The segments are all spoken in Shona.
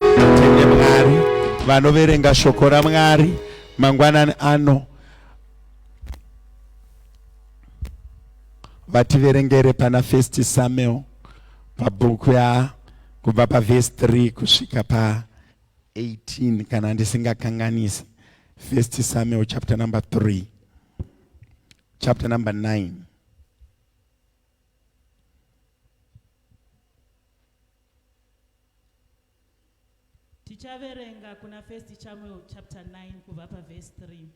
tende mwari vanoverenga shoko ramwari mangwanani ano vativerengere pana first samuel pabhuku ya kubva pavhesi 3 kusvika pa 18 kana ndisingakanganisi first samuel chapter number 3 chapter number 9 tichaverenga kuna first chamuel chapter 9 kubva pavhesi 3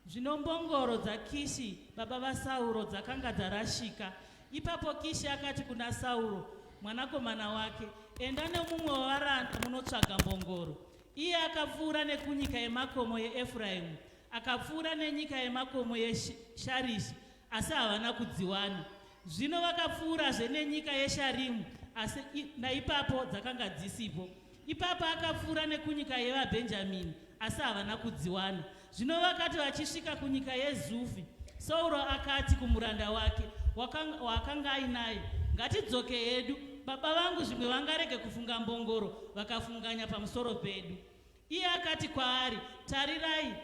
zvino mbongoro dzakishi baba vasauro dzakanga dzarashika ipapo kishi akati kuna sauro mwanakomana wake enda nemumwe wavaranda munotsvaga mbongoro iye akapfuura nekunyika yemakomo yeefuraimu akapfuura nenyika yemakomo yesharishi asi havana kudziwana. Zvino vakapfuurazve nenyika yeSharimu, asi naipapo dzakanga dzisipo. Ipapo akapfuura nekunyika yevaBhenjamini, asi havana kudziwana. Zvino vakati vachisvika kunyika yeZufi, Sauro akati kumuranda wake waakanga ainaye, Ngatidzoke hedu, baba vangu zvimwe vangarege kufunga mbongoro vakafunganya pamusoro pedu. Iye akati kwaari, Tarirai,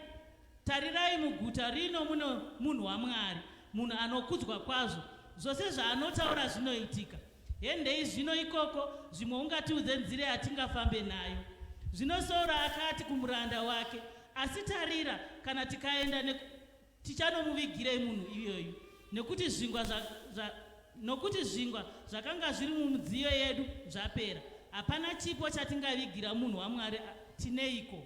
tarirai muguta rino muno munhu waMwari, munhu anokudzwa kwazvo, zvose zvaanotaura zvinoitika. Hendei zvino ikoko, zvimwe ungatiudze nzira yatingafambe nayo. Zvino Sauro akati kumuranda wake, Asi tarira, kana tikaenda neku Tichanomuvigirei munhu iyoyu? Nokuti zvingwa zva, zva, nokuti zvingwa zvakanga zviri mumudziyo yedu zvapera. Hapana chipo chatingavigira munhu waMwari tineiko?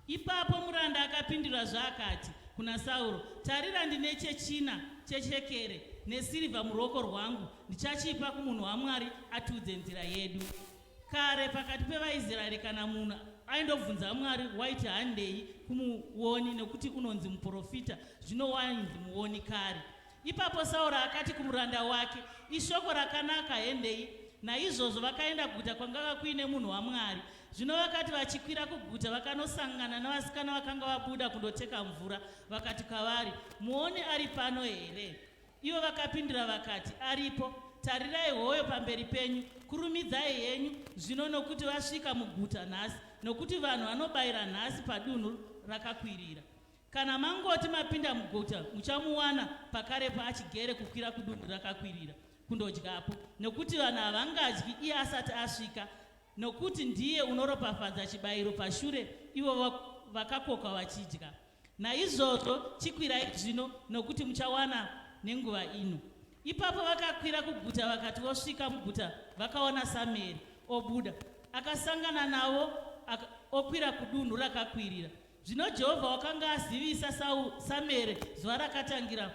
Ipapo muranda akapindura zvaakati kuna Sauro, Tarira, ndine chechina chechekere nesirivha muruoko rwangu, ndichachipa kumunhu waMwari atiudze nzira yedu. Kare pakati pevaIsraeri kana munhu aindobvunza Mwari waiti handei kumuoni nekuti unonzi muprofita, zvino wainzi muoni kare. Ipapo Sauro akati kumuranda wake, ishoko rakanaka hendei. Naizvozvo vakaenda kuguta kwangava kuine munhu waMwari. Zvino vakati vachikwira kuguta vakanosangana navasikana vakanga vabuda kundoteka mvura, vakati kwavari, muoni ari pano here? Ivo vakapindura vakati, Aripo. Tarirai, hoyo pamberi penyu. Kurumidzai henyu zvino, nokuti vasvika muguta nhasi, nokuti vanhu vanobayira nhasi padunhu rakakwirira. Kana mangoti mapinda muguta, muchamuwana pakarepo achigere kukwira kudunhu rakakwirira kundodyapo, nokuti vanhu havangadyi iye asati asvika, nokuti ndiye unoropafadza chibayiro pashure ivo vakakoka vachidya. Naizvozvo chikwirai zvino, nokuti muchawana nenguva ino. Ipapo vakakwira kuguta, vakati vosvika muguta vakaona Samueri obuda, akasangana navo aka, okwira kudunhu rakakwirira. Zvino Jehovha wakanga azivisa Samueri zuva rakatangira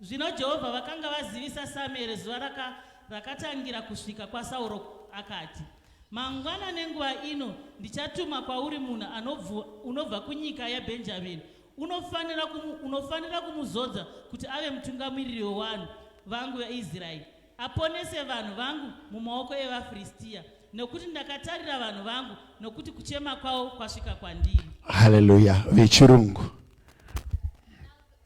Zvino Jehovha vakanga vazivisa Samueri zuva raka, rakatangira kusvika kwaSauro, akati, Mangwana nenguva ino ndichatuma kwauri munhu anobvu, unobva kunyika yaBhenjamini. Unofanira, kumu, unofanira kumuzodza kuti ave mutungamiriri wevanhu vangu veIsraeri, aponese vanhu vangu mumaoko evaFiristiya, nokuti ndakatarira vanhu vangu, nokuti kuchema kwavo kwasvika kwandiri. Haleluya! Vechirungu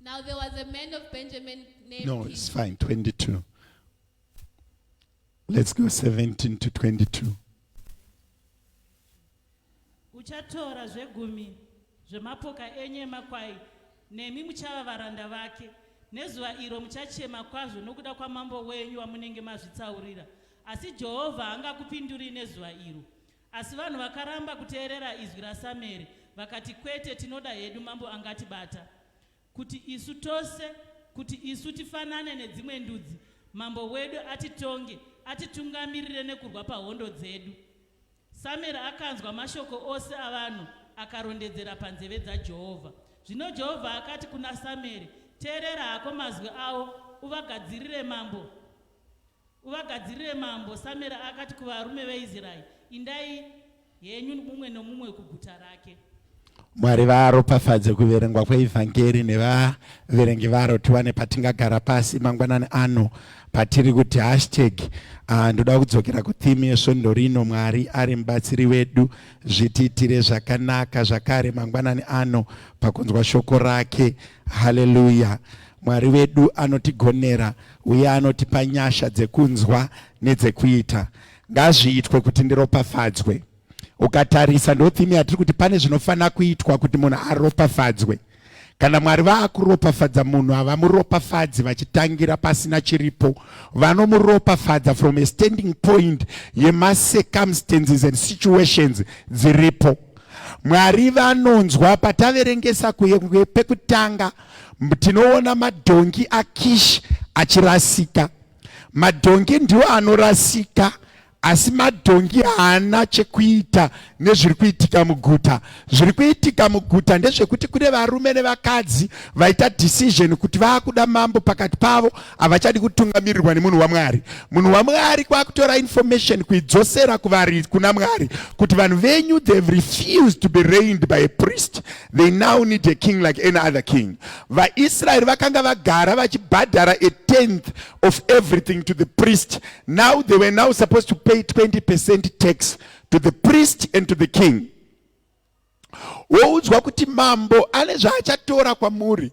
Now there was a man of Benjamin named No, it's fine. 22. Let's go 17 to 22. uchatora zvegumi zvemapoka enyu emakwai nemi muchava varanda vake nezuva iro muchachema kwazvo nokuda kwamambo wenyu wamunenge mazvitsaurira asi jehovha haangakupinduri nezuva iro Asi vanhu vakaramba kuteerera izwi raSamueri, vakati, Kwete, tinoda hedu mambo angatibata, kuti isu tose, kuti isu tifanane nedzimwe ndudzi, mambo wedu atitonge, atitungamirire nekurwa pahondo dzedu. Samueri akanzwa mashoko ose avanhu akarondedzera panzeve dzaJehovha. Zvino Jehovha akati kuna Samueri, Teerera hako mazwi avo, uvagadzirire mambo. Uvagadzirire mambo. Samera akati kuvarume veIsraeri, Indai henyu mumwe nomumwe kuguta rake. Mwari varopafadze kuverengwa kweivhangeri nevaverengi varo tiwane patingagara pasi mangwanani ano patiri kuti hashtag ah, ndoda kudzokera kutheme yesvondo rino mwari ari mubatsiri wedu zvitiitire zvakanaka zvakare mangwanani ano pakunzwa shoko rake haleluya mwari wedu anotigonera uye anotipa nyasha dzekunzwa nedzekuita ngazviitwe kuti ndiropafadzwe ukatarisa ndothimi yatiri kuti pane zvinofanira kuitwa kuti munhu aropafadzwe kana mwari vaakuropafadza munhu havamuropafadzi vachitangira pasina chiripo vanomuropafadza from a standing point yemacircumstances and situations dziripo mwari vanonzwa pataverengesa kuye pekutanga kwe Tinoona madhongi aKishi achirasika. Madhongi ndiwo anorasika asi madhongi haana chekuita nezviri kuitika muguta zviri kuitika muguta ndezvekuti kune varume nevakadzi vaita decision kuti vaakuda mambo pakati pavo havachadi kutungamirirwa nemunhu wamwari munhu wamwari kwakutora information kuidzosera kuvari kuna mwari kuti vanhu venyu they've refused to be reigned by a priest They now need a king like any other king. VaIsraeri vakanga vagara vachibhadhara a tenth of everything to the priest. Now they were now supposed to pay 20% tax to the priest and to the king. Woudzwa kuti mambo ane zvaachatora kwamuri.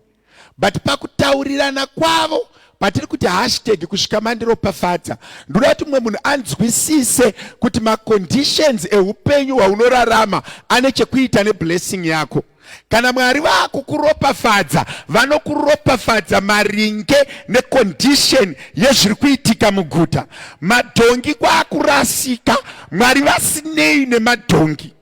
but pakutaurirana kwavo patiri kuti hashtag kusvika mandiropafadza ndoda kuti mumwe munhu anzwisise kuti maconditions eupenyu hwaunorarama ane chekuita neblessing yako kana mwari vakukuropafadza vanokuropafadza maringe necondition yezviri kuitika muguta madhongi kwaakurasika mwari vasinei nemadhongi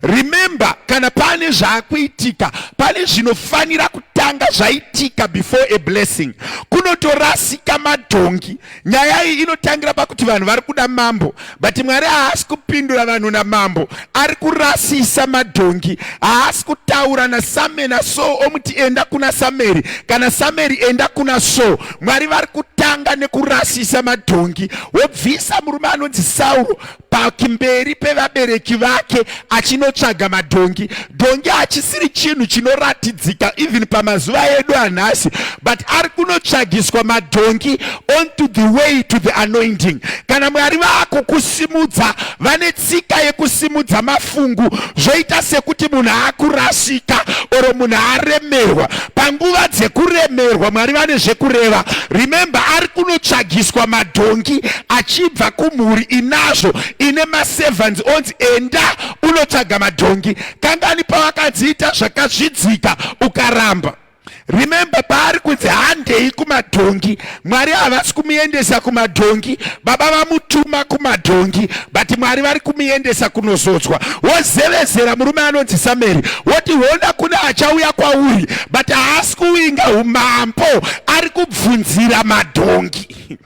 Remember, kana pane zvakuitika, pane zvinofanira kutanga zvaitika before a blessing. Kunotorasika madhongi. Nyaya iyi inotangira pakuti vanhu vari kuda mambo, but Mwari haasi kupindura vanhu namambo, ari kurasisa madhongi. Haasi kutaura naSame naSo omuti enda kuna Sameri kana Sameri enda kuna So. Mwari vari kutanga nekurasisa madhongi, wobvisa murume anonzi Sauro pakimberi pevabereki vake achinotsvaga madhongi dhongi hachisiri chinhu chinoratidzika even pamazuva edu anhasi but ari kunotsvagiswa madhongi on to the way to the anointing kana mwari vaako kusimudza vane tsika yekusimudza mafungu zvoita sekuti munhu akurasika oro munhu aremerwa panguva dzekuremerwa mwari vane zvekureva remember ari kunotsvagiswa madhongi achibva kumhuri inazvo ine maservants onzi enda unotsvaga madhongi kangani pawakadziita zvakazvidzika ukaramba remember paari kunzi handei kumadhongi Mwari havasi kumuendesa kumadhongi, baba vamutuma kumadhongi but Mwari vari kumuendesa kunozodzwa. Wozevezera murume anonzi Sameri woti hona kune achauya kwauri but haasi kuwinga umambo, ari kubvunzira madhongi.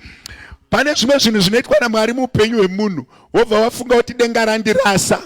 Pane zvimwe zvinhu zvinoitwa naMwari muupenyu hwemunhu wobva wafunga kuti denga randirasa.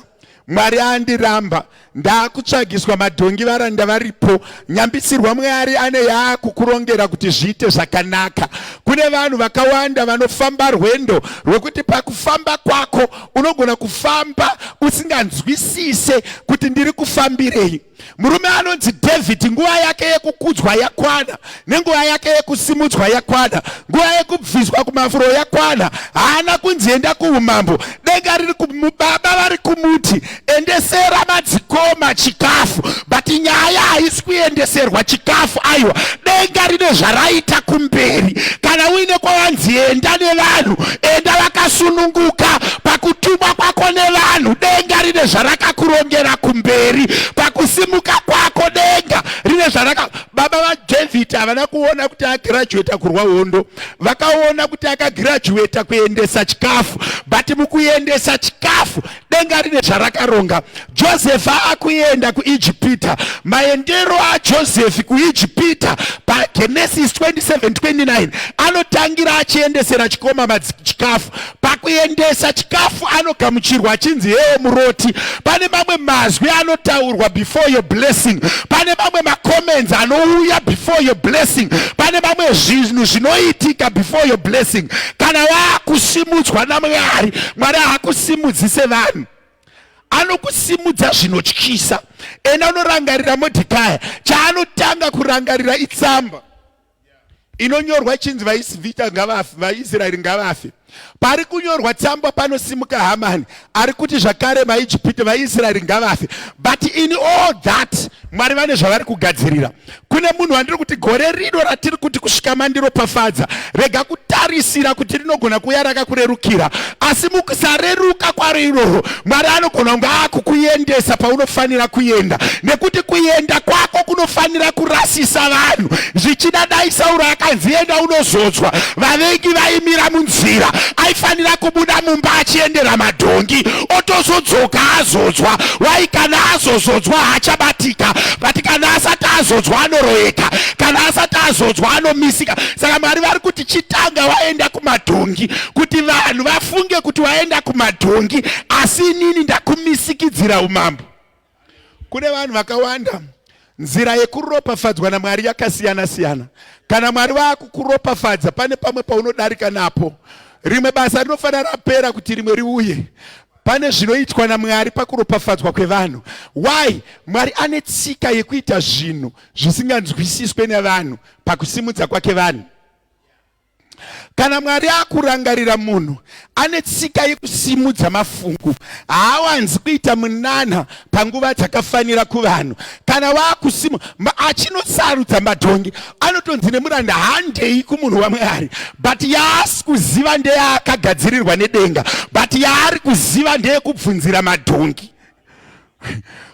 Mwari andiramba ndakutsvagiswa madhongi varanda varipo nyambisirwa Mwari ane yaakukurongera kuti zviite zvakanaka kune vanhu vakawanda vanofamba rwendo rwekuti pakufamba kwako unogona kufamba usinganzwisise kuti ndiri kufambirei Murume anonzi David nguva yake yekukudzwa yakwana nenguva yake yekusimudzwa yakwana, nguva yekubviswa kumafuro yakwana. Haana kunzi enda kuumambo, denga riri kumubaba vari kumuti endesera madzikoma chikafu, but nyaya haisi kuendeserwa chikafu. Aiwa, denga rine zvaraita kumberi. Kana uine kwawanzi enda nevanhu, enda vakasununguka pakutumwa kwako nevanhu denga rine zvarakakurongera kumberi pakusimuka kwako denga rine zvaraka baba vadavid havana kuona kuti agirajueta kurwa hondo vakaona kuti akagirajueta kuendesa chikafu but mukuendesa chikafu denga rine zvarakaronga josefi akuenda kuijipita maendero ajosefi kuijipita pagenesis 2729 anotangira achiendesera chikoma madziki chikafu pakuendesa chikafu anogamuchirwa achinzi hewo muroti pane mamwe mazwi anotaurwa before your blessing pane mamwe macomments anouya before your blessing pane mamwe zvinhu zvinoitika before your blessing kana waakusimudzwa namwari mwari haakusimudzi sevanhu anokusimudza zvinotyisa ena unorangarira modhikaya chaanotanga kurangarira itsamba inonyorwa chinzi vaisvita ngavafe vaisraeri ngavafe pari kunyorwa tsamba panosimuka hamani ari kuti zvakare vaijipiti vaisraeri ngavafe but in all that mwari vane zvavari kugadzirira kune munhu wandiri kuti gore rino ratiri kuti kusvika mandiropafadza rega kutarisira kuti rinogona kuuya rakakurerukira asi mukusareruka kwaro iroro mwari anogona kunge akukuendesa paunofanira kuenda nekuti kuenda kwako kunofanira kurasisa vanhu zvichida dai sauro akanzi enda unozodzwa vavengi vaimira munzira aifanira kubuda mumba achiendera madhongi otozodzoka azodzwa wai kana azozodzwa haachabatika but kana asati azodzwa anoroyeka kana asati azodzwa anomisika saka mwari vari kuti chitanga waenda kumadhongi kuti vanhu vafunge kuti waenda kumadhongi asi inini ndakumisikidzira umambo Kune vanhu vakawanda nzira yekuropafadzwa naMwari yakasiyana siyana. Kana Mwari vakukuropafadza pane pamwe paunodarika napo. Rimwe basa rinofanira rapera kuti rimwe riuye. Pane zvinoitwa naMwari pakuropafadzwa kwevanhu. Why? Mwari ane tsika yekuita zvinhu zvisinganzwisiswe nevanhu pakusimudza kwake vanhu. Kana Mwari akurangarira munhu ane tsika yekusimudza mafungu, haawanzi kuita munana panguva dzakafanira kuvanhu. Kana wakusimu achinosarudza madhongi, anotonzi nemuranda handei kumunhu waMwari, but yaasi kuziva ndeyaakagadzirirwa nedenga, but yaari kuziva ndeyekubvunzira madhongi.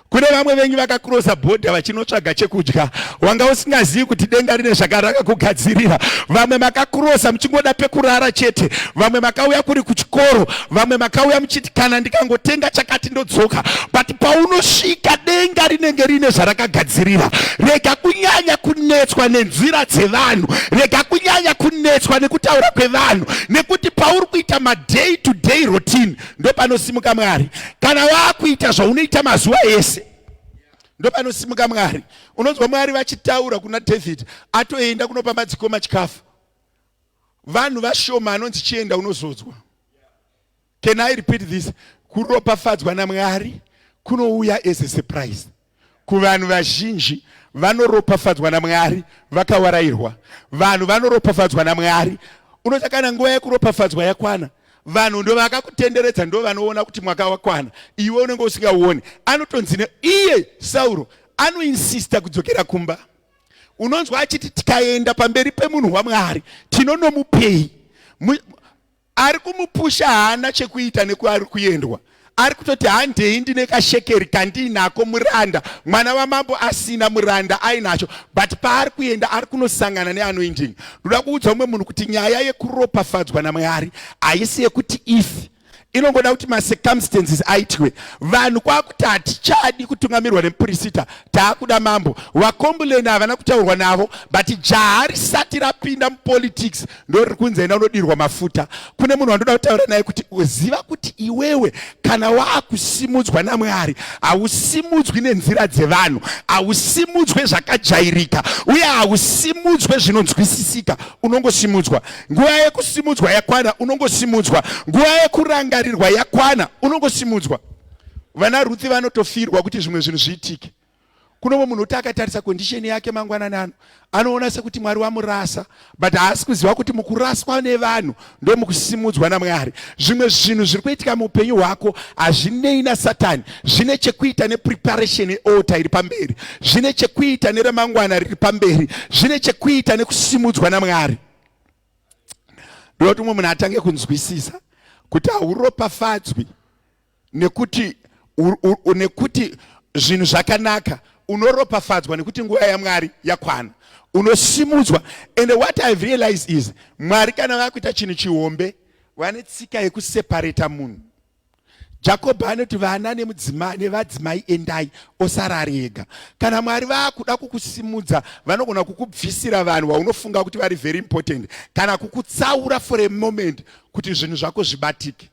kune vamwe vengi vakakurosa bhodha vachinotsvaga chekudya wanga usingazivi kuti denga rine zvakaraka kugadzirira vamwe makakurosa muchingoda pekurara chete vamwe makauya kuri kuchikoro vamwe makauya muchiti kana ndikangotenga chakati ndodzoka but paunosvika denga rinenge rine zvarakagadzirira rega kunyanya kunetswa nenzira dzevanhu rega kunyanya kunetswa nekutaura kwevanhu nekuti pauri kuita maday to day routine ndopanosimuka mwari kana wakuita zvaunoita mazuva ese ndopanosimuka mwari unonzwa mwari vachitaura kuna david atoenda kunopa madzikoma chikafu vanhu vashoma anonzi chienda unozodzwa can i repeat this kuropafadzwa namwari kunouya as a surprise Kuvanhu vazhinji vanoropafadzwa naMwari vakawarairwa. Vanhu vanoropafadzwa naMwari. Unoita kana nguva yekuropafadzwa yakwana, vanhu ndovakakutenderedza ndovanoona kuti mwaka wakwana, iwe unenge usingauoni. Anotonzi iye Sauro anoinsista kudzokera kumba. Unonzwa achiti tikaenda pamberi pemunhu waMwari tinonomupei? ari kumupusha haana chekuita nekuari kuendwa ari kutoti handei ndine kashekeri kandiinako muranda mwana wamambo asina muranda ainacho but paari kuenda ari kunosangana neanoinding ndoda kuudza umwe munhu kuti nyaya yekuropafadzwa namwari haisi yekuti ifi inongoda kuti macircumstances aitwe vanhu kwakuti hatichadi kutungamirwa nemupurisita taakuda mambo vakombuleni havana kutaurwa navo but jaha risati rapinda mupolitics ndoriri kunzi enda unodirwa mafuta kune munhu wandoda kutaura naye kuti uziva kuti iwewe kana waakusimudzwa namwari hausimudzwi nenzira dzevanhu hausimudzwe zvakajairika uye hausimudzwe zvinonzwisisika unongosimudzwa nguva yekusimudzwa yakwana unongosimudzwa nguva yekurangarirwa yakwana unongosimudzwa vana ruthi vanotofirwa kuti zvimwe zvinhu zviitike kuno mwe munhu uti akatarisa condition yake mangwanani ano anoona sekuti mwari wamurasa but haasi kuziva kuti mukuraswa nevanhu ndo mukusimudzwa namwari zvimwe zvinhu zviri kuitika muupenyu hwako hazvinei nasatani zvine chekuita nepreparation yealta iri pamberi zvine chekuita neremangwana riri pamberi zvine chekuita nekusimudzwa namwari ndinoti umwe munhu atange kunzwisisa kuti hauropafadzwi nekuti nekuti zvinhu zvakanaka unoropafadzwa nekuti nguva yamwari yakwana unosimudzwa and what ihave realized is mwari kana vakuita chinhu chihombe vane tsika yekuseparata munhu jakobho anoti vana nevadzimai endai osara ari ega kana mwari vaakuda kukusimudza vanogona kukubvisira vanhu vaunofunga kuti vari very important kana kukutsaura for a moment kuti zvinhu zvako zvibatike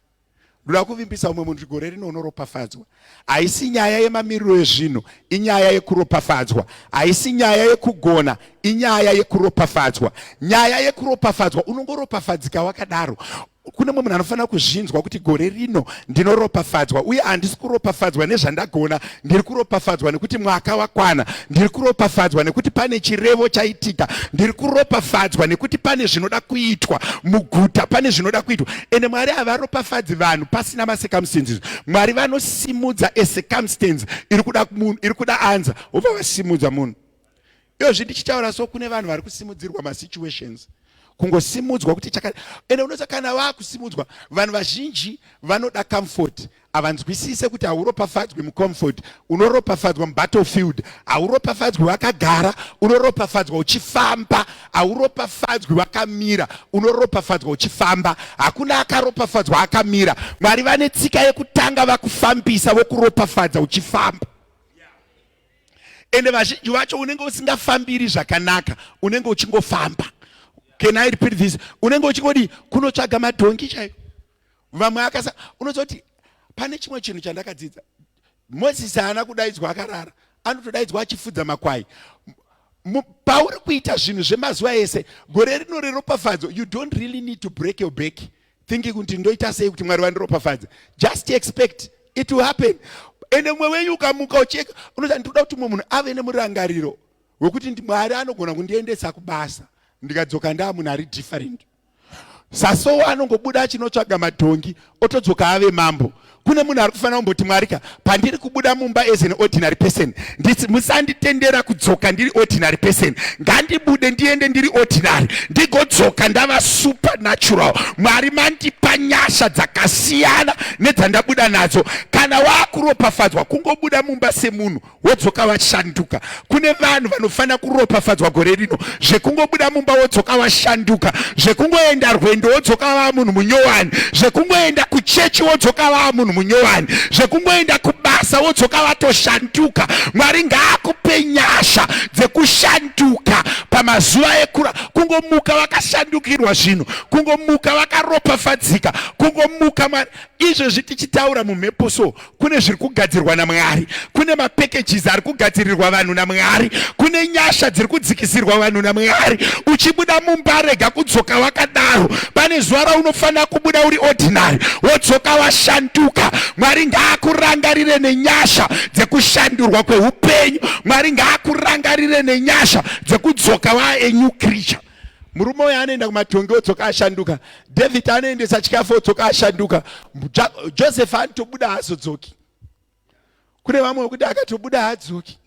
ndoda kuvimbisa umwe munhu gore rino unoropafadzwa haisi nyaya yemamiriro ezvinhu inyaya yekuropafadzwa haisi nyaya yekugona inyaya yekuropafadzwa nyaya yekuropafadzwa unongoropafadzika wakadaro kune mumwe munhu anofanira kuzvinzwa kuti gore rino ndinoropafadzwa uye handisi kuropafadzwa nezvandagona ndiri kuropafadzwa nekuti mwaka wakwana ndiri kuropafadzwa nekuti pane chirevo chaitika ndiri kuropafadzwa nekuti pane zvinoda kuitwa muguta pane zvinoda kuitwa ende mwari havaropafadzi vanhu pasina macircumstances mwari vanosimudza ecircumstance iri kuda anza vobva vasimudza munhu Dozvi ndichitaura so kune vanhu vari kusimudzirwa masituations kungosimudzwa kuti chaka ende unoza kana vakusimudzwa vanhu vazhinji vanoda comfort havanzwisise kuti hauropafadzwi mucomfort unoropafadzwa mubattlefield hauropafadzwi wakagara unoropafadzwa uchifamba hauropafadzwi wakamira unoropafadzwa uchifamba hakuna akaropafadzwa akamira mwari vane tsika yekutanga vakufambisa vokuropafadza uchifamba ende vazhinji vacho unenge usingafambiri zvakanaka unenge uchingofamba can i repeat this unenge uchingodi kunotsvaga madhongi chaiyo vamwe akasa unozoti pane chimwe chinhu chandakadzidza mozisi haana kudaidzwa akarara anotodaidzwa achifudza makwai pauri kuita zvinhu zvemazuva ese gore rino reropafadzo you don't really need to break your back thinking kuti ndoita sei kuti mwari vandiropafadze just expect it will happen ende mumwe wenyu ukamuka ucheka unoza ndikuda kuti mumwe munhu ave nemurangariro wekuti mwari anogona kundiendesa kubasa ndikadzoka ndaa munhu ari different sasowa anongobuda achinotsvaga madhongi otodzoka ave mambo kune munhu ari kufanira kumboti mwari ka pandiri kubuda mumba as an ordinary person ndisi musanditendera kudzoka ndiri ordinary person ngandibude ndiende ndiri ordinary ndigodzoka ndava supernatural mwari mandipa nyasha dzakasiyana nedzandabuda nadzo kana waakuropafadzwa kungobuda mumba semunhu wodzoka washanduka kune vanhu vanofanira kuropafadzwa gore rino zvekungobuda mumba wodzoka washanduka zvekungoenda rwendo wodzoka vaa munhu munyowani zvekungoenda kuchechi wodzoka vaa munhu munyowani zvekungoenda kubasa wodzoka vatoshanduka mwari ngaakupe nyasha dzekushanduka pamazuva ekura kungomuka vakashandukirwa zvinhu kungomuka vakaropafadzika kungomuka mwari izvezvi tichitaura mumhepo so kune zviri kugadzirwa namwari kune mapackages ari kugadzirirwa vanhu namwari kune nyasha dziri kudzikisirwa vanhu namwari uchibuda mumba rega kudzoka wakadaro pane zuva raunofanira kubuda uri ordinary wodzoka washanduka mwari ngaakurangarire nenyasha dzekushandurwa kweupenyu mwari ngaakurangarire nenyasha dzekudzoka waa a new creature murume uyo anoenda kumatongi odzoka ashanduka david anoendesa chikafu odzoka ashanduka joseph anotobuda haazodzoki kune vamwe vekuti akatobuda haadzoki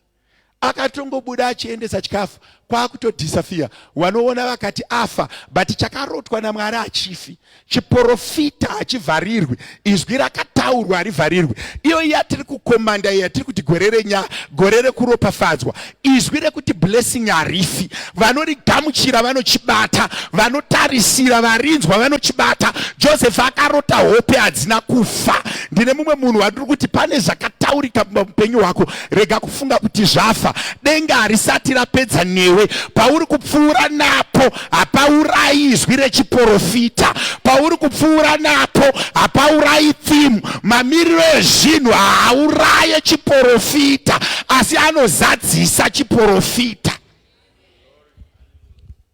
akatongobuda achiendesa chikafu kwakutodhisafiya wanoona vakati afa but chakarotwa namwari achifi chiporofita hachivharirwi izwi rakataurwa harivharirwi iyo yatiri kukomanda yatiri kuti gore renyaya gore rekuropafadzwa izwi rekuti blessing harifi vanorigamuchira vanochibata vanotarisira varinzwa vanochibata joseph akarota hope hadzina kufa ndine mumwe munhu wandiri kuti pane zvakataurika mupenyu hwako rega kufunga kuti zvafa denga harisati rapedza newe pauri kupfuura napo hapaurayi izwi rechiporofita pauri kupfuura napo hapaurayi thimu mamiriro ezvinhu haauraye chiporofita asi anozadzisa chiporofita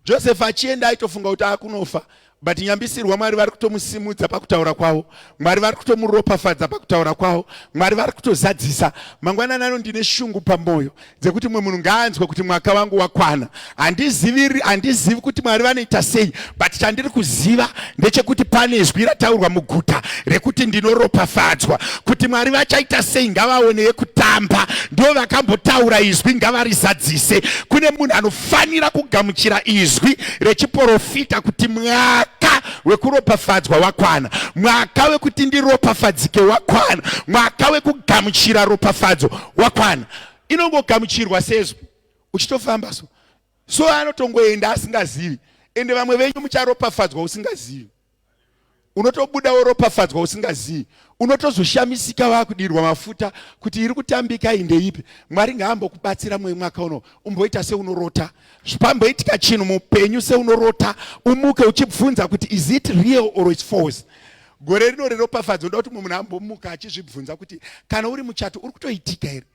joseph achienda aitofunga kuti akunofa but nyambisirwa mwari vari kutomusimudza pakutaura kwavo mwari vari kutomuropafadza pakutaura kwavo mwari vari kutozadzisa mangwanani ano ndine shungu pamwoyo dzekuti mumwe munhu ngaanzwe kuti mwaka wangu wakwana handizivi handizivi kuti mwari vanoita sei but chandiri kuziva ndechekuti pane zwi rataurwa muguta rekuti ndinoropafadzwa kuti mwari vachaita sei ngavaone yekutamba ndo vakambotaura izwi ngavarizadzise kune munhu anofanira kugamuchira izwi rechiporofita kuti mwaka wekuropafadzwa wakwana mwaka wekuti ndiropafadzike wakwana mwaka wekugamuchira ropafadzo wakwana inongogamuchirwa sezvo uchitofamba so so anotongoenda asingazivi ende vamwe venyu mucharopafadzwa usingazivi unotobuda woropafadzwa usingazivi unotozoshamisika vakudirwa mafuta kuti iri kutambika indeipi mwari ngaambokubatsira mwe mwaka uno umboita seunorota zvipamboitika chinhu mupenyu seunorota umuke uchibvunza kuti is it real or its false Gore rino reropafadzo ndoda kuti mumwe munhu ambomuka achizvibvunza kuti kana uri muchato uri kutoitika here?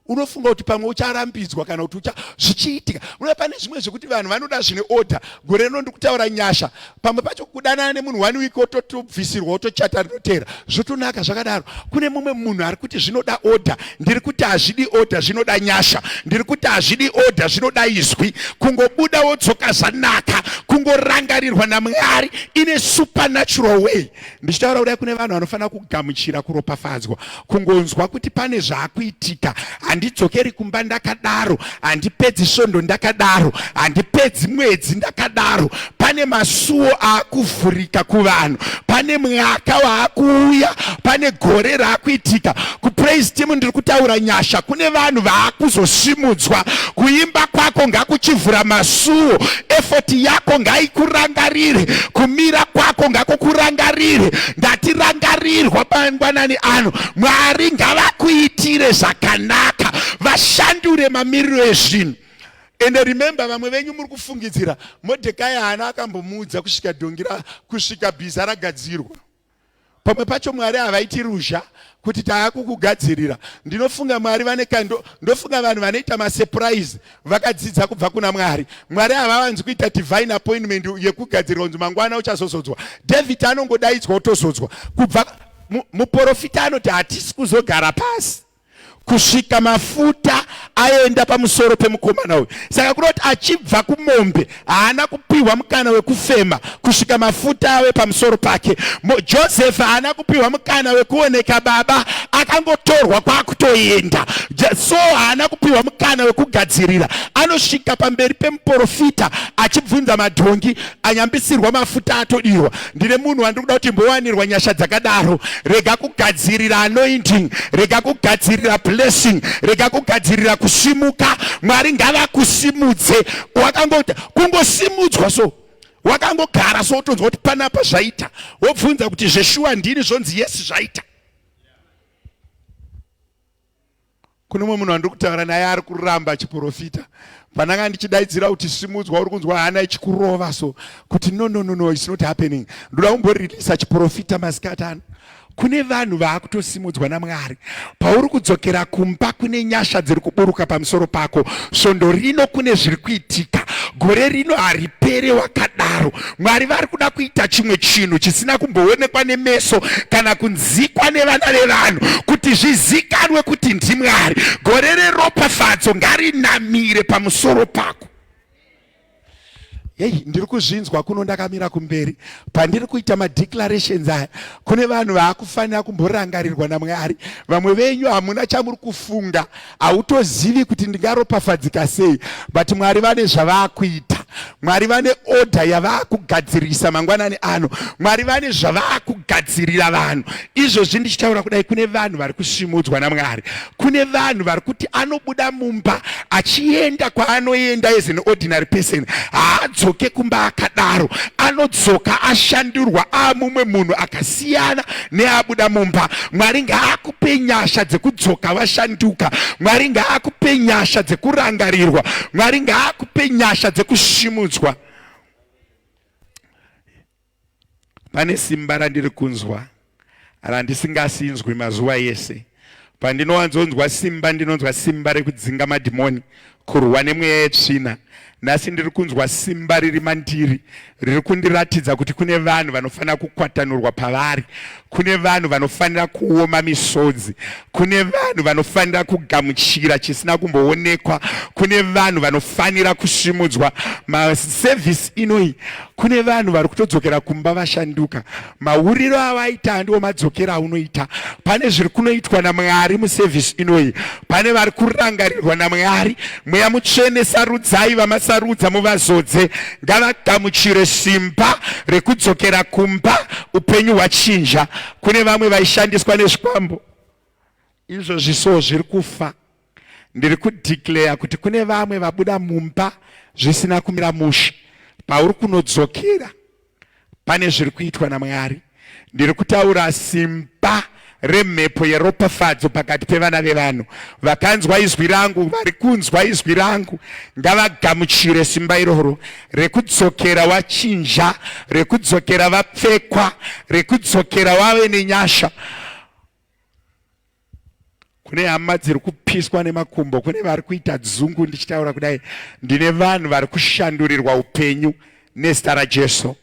Unofunga kuti pamwe ucharambidzwa kana kuti ucha zvichiitika. Unoda pane zvimwe zvekuti vanhu vanoda zvine order. Gore rino ndikutaura nyasha. Pamwe pacho kudanana nemunhu one week ototobvisirwa otochata rinotera. Zvotonaka zvakadaro. Kune mumwe munhu ari kuti zvinoda order ndiri kuti hazvidi oda zvinoda nyasha ndiri kuti hazvidi oda zvinoda izwi kungobuda wodzoka zvanaka kungorangarirwa namwari ine supernatural way ndichitaura kudai kune vanhu vanofanira kugamuchira kuropafadzwa kungonzwa kuti pane zvaakuitika handidzokeri kumba ndakadaro handipedzi svondo ndakadaro handipedzi mwedzi ndakadaro pane masuwo aakuvhurika kuvanhu pane mwaka waakuuya pane gore raakuitika kupraise team ndiri kutaura nyasha kune vanhu vaakuzosimudzwa kuimba kwako ngakuchivhura masuwo efoti yako ngaikurangarire kumira kwako ngakukurangarire ndatirangarirwa pangwanani ano mwari ngavakuitire zvakanaka vashandure mamiriro ezvinhu ende remember vamwe venyu muri kufungidzira modhekai haana akambomuudza kusvika dhongi kusvika bhiza ragadzirwa pamwe pacho mwari havaiti ruzha kuti taakukugadzirira ndinofunga mwari vane kando ndofunga vanhu vanoita masurprise vakadzidza kubva kuna mwari mwari havavanzi kuita divine appointment yekugadzirira kunzi mangwana uchazozodzwa david anongodaidzwa otozodzwa kubva muporofita anoti hatisi kuzogara pasi kusvika mafuta aenda pamusoro pemukomana uyu saka kunoti achibva kumombe haana kupiwa mukana wekufema kusvika mafuta ave pamusoro pake josefu haana kupiwa mukana wekuoneka baba akangotorwa kwakutoenda so haana kupiwa mukana wekugadzirira anosvika pamberi pemuporofita achibvunza madhongi anyambisirwa mafuta atodirwa ndine munhu wandiri kuda kuti mbowanirwa nyasha dzakadaro rega kugadzirira anointing rega kugadzirira blessing rega kugadzirira kusimuka mwari ngavakusimudze wakangoita kungosimudzwa so wakangogara so wotonzwa kuti panapa zvaita wobvunza kuti zveshuwa ndini zvonzi yesi zvaita kune mumwe munhu andiri kutaura naye ari kuramba achiprofita pandanga ndichidaidzira kuti simudzwa uri kunzwa hana ichikurova so kuti no no no no it's not happening ndoda kumboreleasa chiprofita masikati ano kune vanhu vaakutosimudzwa namwari pauri kudzokera kumba kune nyasha dziri kuburuka pamusoro pako svondo rino kune zviri kuitika gore rino haripere wakadaro Mwari vari kuda kuita chimwe chinhu chisina kumboonekwa nemeso kana kunzikwa nevana vevanhu kuti zvizikanwe kuti ndiMwari. Gore reropafadzo ngarinamire pamusoro pako. Hei, ndiri kuzvinzwa kuno ndakamira kumberi pandiri kuita madeclarations aya. Kune vanhu vaakufanira kumborangarirwa naMwari. Vamwe venyu hamuna chamuri kufunga. hautozivi kuti ndingaropafadzika sei but mwari vane zvavaakuita mwari vane odha yavaakugadzirisa mangwanani ano mwari vane zvavaakugadzirira vanhu izvozvi ndichitaura kudai kune vanhu vari kusimudzwa namwari kune vanhu vari kuti anobuda mumba achienda kwaanoenda as an ordinary person haadzoke kumba akadaro anodzoka ashandurwa aamumwe munhu akasiyana neabuda mumba mwari ngaakupe nyasha dzekudzoka vashanduka mwari ngaakupe nyasha dzekurangarirwa mwari ngaakupe nyasha dzekusimudzwa pane simba randiri kunzwa randisingasinzwi mazuva yese Pandinowanzonzwa simba ndinonzwa simba rekudzinga madhimoni, kurwa nemweya yetsvina. Nhasi ndiri kunzwa simba riri mandiri riri kundiratidza kuti kune vanhu vanofanira kukwatanurwa pavari, kune vanhu vanofanira kuoma misodzi, kune vanhu vanofanira kugamuchira chisina kumboonekwa, kune vanhu vanofanira kusimudzwa. Masevhisi inoyi, kune vanhu vari kutodzokera kumba vashanduka. Mauriro awaita andiwo madzokera aunoita. Pane zviri kunoitwa naMwari muservice inoyi. Pane vari kurangarirwa naMwari. Mweya mutsvene sarudzai vamasarudza muvazodze. Ngavagamuchire simba rekudzokera kumba upenyu hwachinja. Kune vamwe vaishandiswa nezvikwambo. Izvozvi so zviri kufa. Ndiri kudeclare kuti kune vamwe vabuda mumba zvisina kumira mushe. Pauri kunodzokera pane zviri kuitwa naMwari. Ndiri kutaura simba remhepo yeropafadzo pakati pevana vevanhu. Vakanzwa izwi rangu, vari kunzwa izwi rangu, ngavagamuchire simba iroro rekudzokera wachinja, rekudzokera vapfekwa, rekudzokera wave nenyasha. kune hama dziri kupiswa nemakumbo kune vari kuita dzungu ndichitaura kudai ndine vanhu vari kushandurirwa upenyu nezita rajesu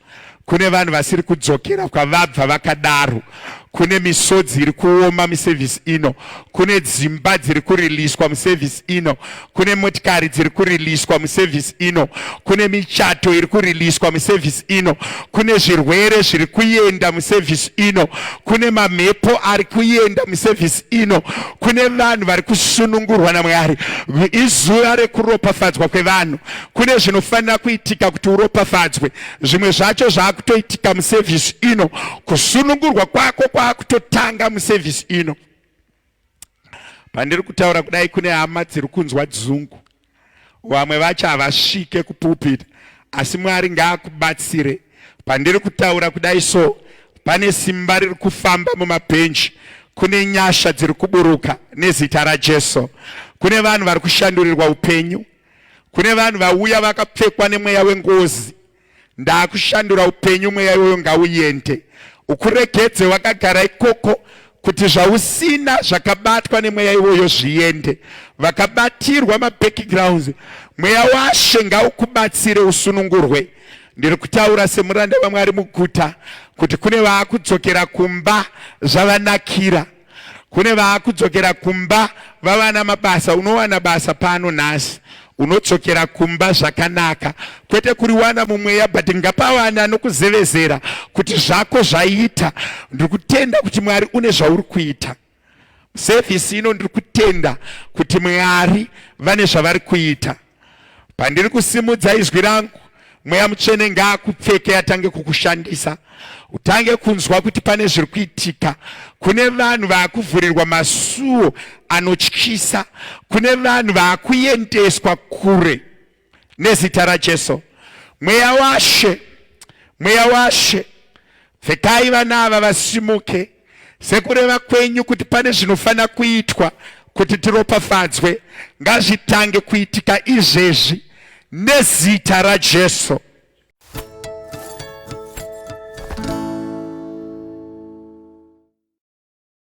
kune vanhu vasiri kudzokera kwavabva vakadaro kune misodzi iri kuoma musevhisi ino kune dzimba dziri kuriliswa musevhisi ino kune motikari dziri kuriliswa musevhisi ino kune michato iri kuriliswa musevhisi ino kune zvirwere zviri kuenda musevhisi ino kune mamhepo ari kuenda musevhisi ino kune vanhu vari kusunungurwa namwari izuva rekuropafadzwa kwevanhu kune zvinofanira kuitika kuti uropafadzwe zvimwe zvacho zvaakutoitika musevhisi ino kusunungurwa kwako kwaakutotanga musevhisi ino pandiri kutaura kudai kune hama dziri kunzwa dzungu vamwe vacho havasvike kupupita asi mwari ngaakubatsire pandiri kutaura kudai so pane simba riri kufamba mumabhenji kune nyasha dziri kuburuka nezita rajesu kune vanhu vari kushandurirwa upenyu kune vanhu vauya vakapfekwa nemweya wengozi Ndakushandura upenyu mweya iwoyo ngauyende. Ukuregedze wakagara ikoko kuti zvausina zvakabatwa nemweya iwoyo zviende. Vakabatirwa mabackgrounds mweya washe ngaukubatsire usunungurwe. Ndiri kutaura semuranda vaMwari muguta kuti kune vaakudzokera kumba zvavanakira. kune vaakudzokera kumba vavana mabasa unowana basa pano nhasi unodzokera kumba zvakanaka kwete kuriwana mumweya but ngapawana nokuzevezera kuti zvako zvaita ndiri kutenda kuti mwari une zvauri kuita sevhisi ino ndiri kutenda kuti mwari vane zvavari kuita Pandiri kusimudza izwi rangu, mweya mutsvene ngaakupfeke atange kukushandisa, utange kunzwa kuti pane zviri kuitika. Kune vanhu vaakuvhurirwa masuo anotyisa, kune vanhu vaakuendeswa kure nezita raJesu. Mweya washe, mweya washe, pfekai vana ava vasimuke Sekureva kwenyu kuti pane zvinofanira kuitwa kuti tiropafadzwe, ngazvitange kuitika izvezvi nezita raJesu.